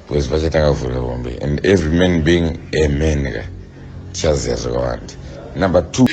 because vachatanga kuvhura hombe and every man being a man ka tichaziva zvakawanda number two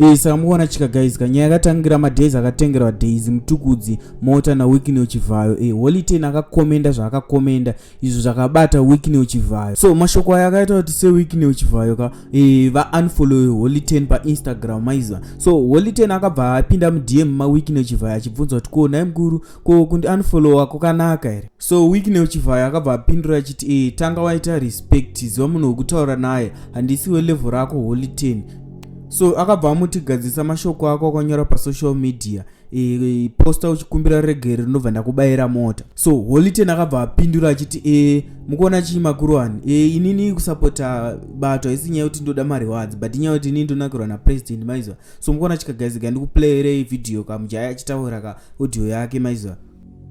Ee saka mukuona chika guys ka nyaya yakatangira madays akatengerwa days mutukudzi mota naweekend uchivhayo ee holy ten akakomenda zvaakakomenda izvo zvakabata wicknel chivhayo so mashoko aya akaita kuti sewicknel chivhayo ka e, vaunfollowe holy ten painstagram maiziva so holy ten akabva apinda mudm mawicknel chivhayo achibvunza kuti ko nai mukuru ko kundi unfollowa kwakanaka here so wicknel chivhayo akabva apindura achiti e, tanga waita respect ziva munhu wekutaura naye handisi welevel rako holy ten so akabva amutigadzisa mashoko ako akanyora pasocial media posta uchikumbira regere ndobva ndakubayira mota so holiten akabva apindura achiti e mukuona chii makuruwani e inini kusapota bato haisi nyaya yekuti ndoda mari wadzi but inyaya yekuti inini ndonakirwa napresident maiziva so mukuona chikagaiziga ndikuplayerei vhidhiyo kamujaya achitaura ka audio yake maiziva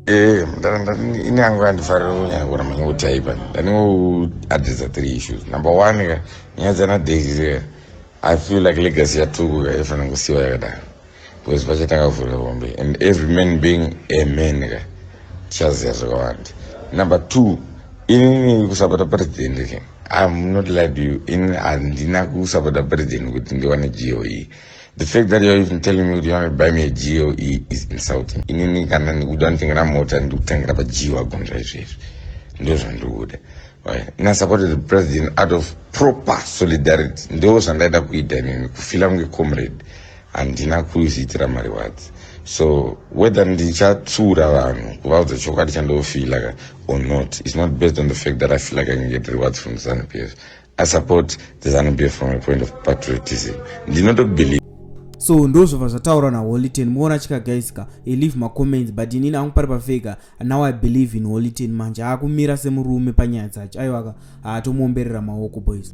ee eh, ini angu andifarira kunyaya kuona manya kutaipa ndandingoadresa three issues number one ka nyaya dzana daisy i feel like legacy yatukuka ifanira kusiwa yakadaro because vachatanga kuvhura hombe and every man being a man ka tichaziva zvakawanda number two inini kusapota president ke im not lid you inini handina kusapota president kuti ndiwane goe the fact that youare even telling me kuti you want to buy me a goe is insulting inini kana ndikuda nditengera mota ndikutengera pagio agonzva izvezvi ndo zvandikuda ina supported the president out of proper solidarity ndo zvandaida kuita inini kufila kunge comrade Handina kuzviitira mariwadzi so whether ndichatsura vanhu kuvaudza chokwadi chandofeela ka or not is not based on the fact that i feel like i can get rewards from the zanu p f i support the zanu p f from a point of patriotism ndinotobelieve so ndozvobva zvataurwa naholiten muona chika guys ka i leave macomments but inini angu pari pafeka now i believe in holiten manje aakumira semurume panyaya dzacho aiwaka haatomuomberera maoko boys